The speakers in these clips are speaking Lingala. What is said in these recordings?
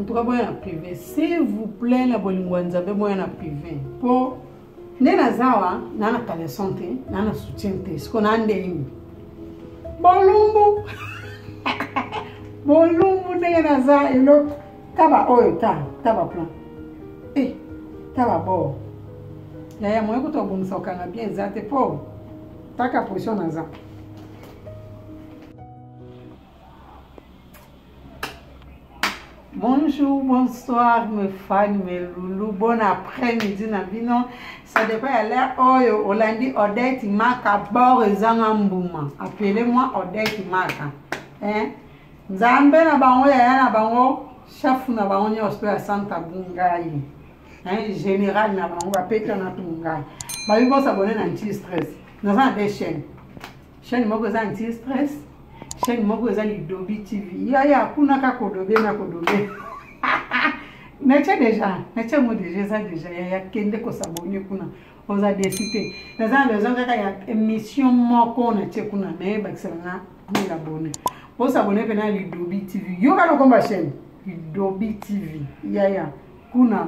en tout cas boya na privé s'il vous plaît na bolingo ya nzambe boya na privé mpo nde naza awa naa na caleson te naa na soutien te siko naa nde nini bolumbu bolumbu ndenge naza eloko ta baoyo ta ta baplan e eh, ta babor yaya moye kutu abongisa kokanga bien eza te mpo taka position naza Bonjour, bonsoir mes fans, mes loulous. Bon après-midi na bino. Ça dépend ya l'heure oyo oh, olandi Odette Maka bord ezanga mbuma. Appelez-moi Odette Maka. Hein? Nzambe na bango yaya na bango chef na bango nyonso ya Santa Bungai. Hein? Général na bango bapeta na tungai. Babi bosabone na nti stress. Naza na deux chaînes. chaîne moko eza anti stress chaîne moko eza lidobi tv yaya kuna ka kodobe na kodobe natie déjà natie yango déjà eza déjà yaya kende kosabone kuna oza desi te naza na besoin kaka ya émission moko natie kuna me bakisela nga mille abonne osabone mpe na lidobi tv yoka lokomba chaîne lidobi tv yaya kuna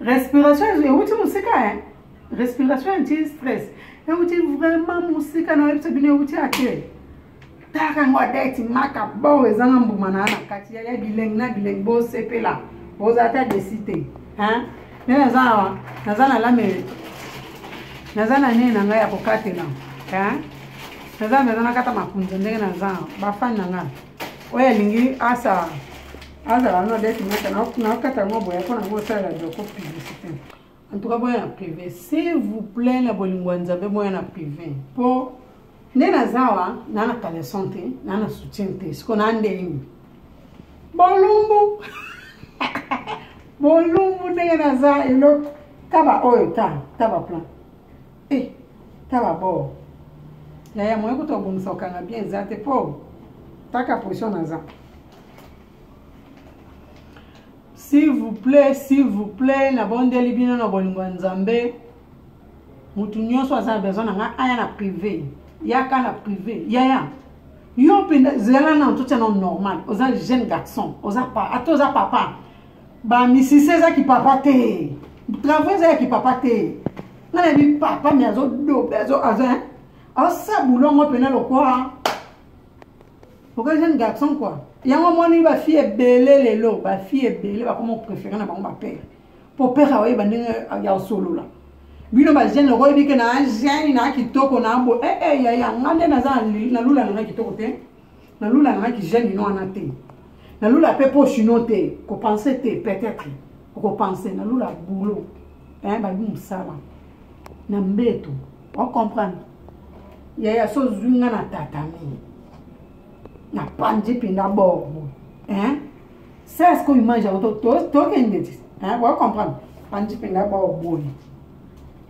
respiration euti mosika e eh? respiration anti stress euti vraiment mosika na oyebisa bino euti ate taka yango adeti maka bo ezanga mbuma na na kati ya bilengi na bilengi bosepela boza ata desi te nde naza awa naza na lame naza na nini na ngai ya kokatela naza mpenza nakata makunza ndenge naza bafani na ngai oyo alingi asa azala no date mata nakata yango boya mpo nango osalela doko publicité en tout cas boya na privé s'il vous plaît na bolingo ya nzambe boya na privé mpo nde naza wa naa na caleson te naa na soutien te siko naa nde nini bolumbu bolumbu ndenge naza eloko taba oyo ta taba plan e eh, taba bor yaya moye kutu obongisa okanga bien eza te mpo taka position naza s'il vous plaît s'il vous plaît nabondeli bino na bolingo ya nzambe motu nyonso aza na besoin na ngai aya na prive yaka na prive yaya yo mpenza zela na ntotya na normal oza jeune garçon oza pa ata oza papa bamisisi eza kipapa te travaux eza ya kipapa te nga na yebi papa mi azodobe aza aosa bulongo mpena lokwa oka jeune garçon quoi yango omoni bafille ebele lelo bafille ebele bakoma opréféré na bango bapere mpo pere aoyeba ndenge ya kosolola bino bajeune loko oyebi ke na jeune na kitoko na bo ee eh, eh, yaya nga nde naza na lula nanga kitoko te na lula nanga kijeune ino wana te na lula mpe mpo chino te kopense te peut-être okopense na lula boulot bayebi mosala na mbeto o comprendre yaya so ozwi nga na tatami na panzi mpenza bor boye hein ça est ce que image yango tokende ti o comprendre panzi mpenza bor boye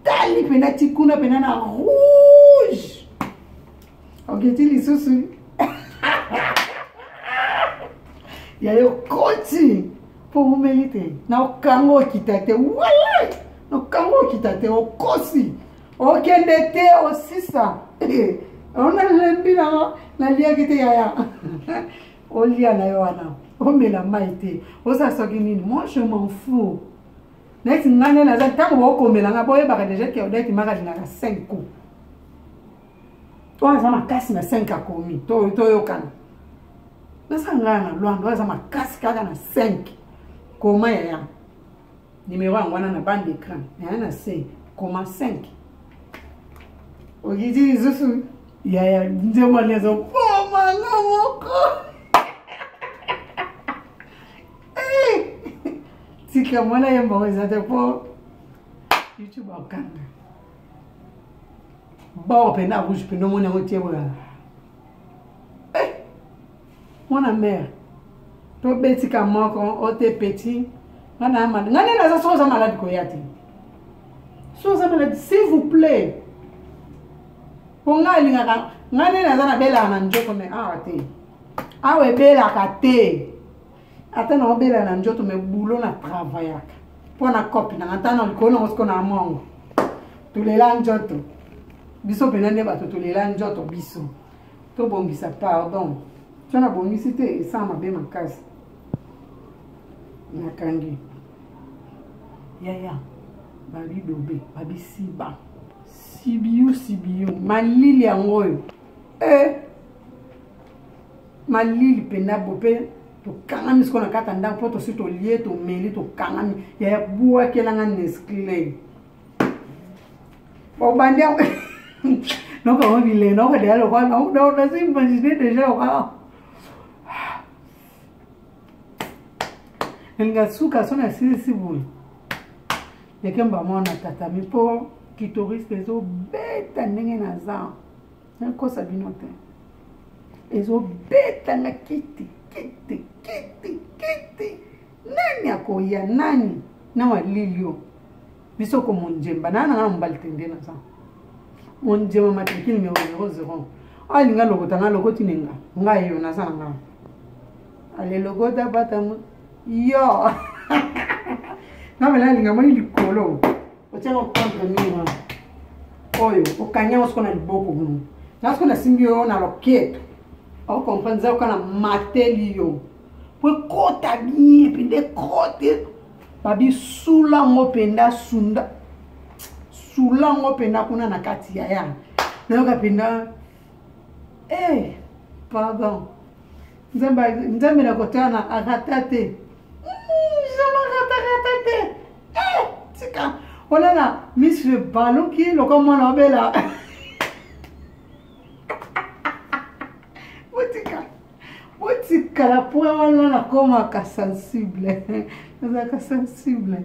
tali mpenza ti kuna mpenza na rouge oketi lisusu yayo koti omeli te na okanga okita te wala na okanga okita te okosi okende te osisa ona lembi na naliaki te yaya olia na yo wana omela mai te oza soki nini moi je m'en fou neti ngai nde naza ntango baokomela ngai boyebaka deja ke odakimaka lingaka 5 coup oyo aza makasi na 5 akomi toyokana nasala ngai na lwanda oyo aza makasi kaka na 5 koma yaya nimero yango wana na bande écran yaya na se koma 5 okiti lisusu yaya nzembo nezo koma nga moko eh! tika mwana yemba oyo eza te mpo youtube akanga bord pena rouge pena omoni yango te boyana eh! mwana mare tobetika moko ote petit nga na malade nga nde naza soki oza malade koya te soki oza malade s'il vous plaît mpo nga alingaka nga nde naza nabelaka na njoko me awa te awa ebelaka te ata na obela na njoto me bulo na travaillaka mpo na cope nanga ata na likolo nango siko na mongo tolela njoto biso mpena nde bato tolela njoto biso tobongisa pardon so nabongisi te esala mabe makasi nakangi yaya babidobe babisiba sibiu sibiu malili yango oyo e eh. malili mpenza bo mpe tokangami sikoyo na kati ya ndako mpo tosi tolie tomeli tokangami yaya bwakelanga nesclay obandi yango noko yango bilei noko deya lokola nazo imagine deja lokola elinga suka so nasilisi boye ndekemba mwana tatami mpo kitoriste ezobeta ndenge naza nakosa bino te ezobeta na kiti kiti kiti kiti nani akoya nani na walilio biso ko monjemba naa nanga na mobali tende naza monjemba matriki numero 00 alinga lokota nga lokoti nenga nga yo naza na nga ale lokota bata yo nabela alinga moni likolo otyanga okondre mira oyo okangi yango soko na liboko gumu na soko nasimbi yo na loketo okomprendre eza yoka na mateli yo po ekota bien mpenza ekote babisula ngo mpenza sunda sula ngo mpenza kuna na kati ya ya nayoka mpenza e eh, pardon nzambe na kotana arata te zama hmm, ratarata te eh, tika olala miss le baluki loka mwana obela botika botikala po wana nakomaka sensible nazalaka sensible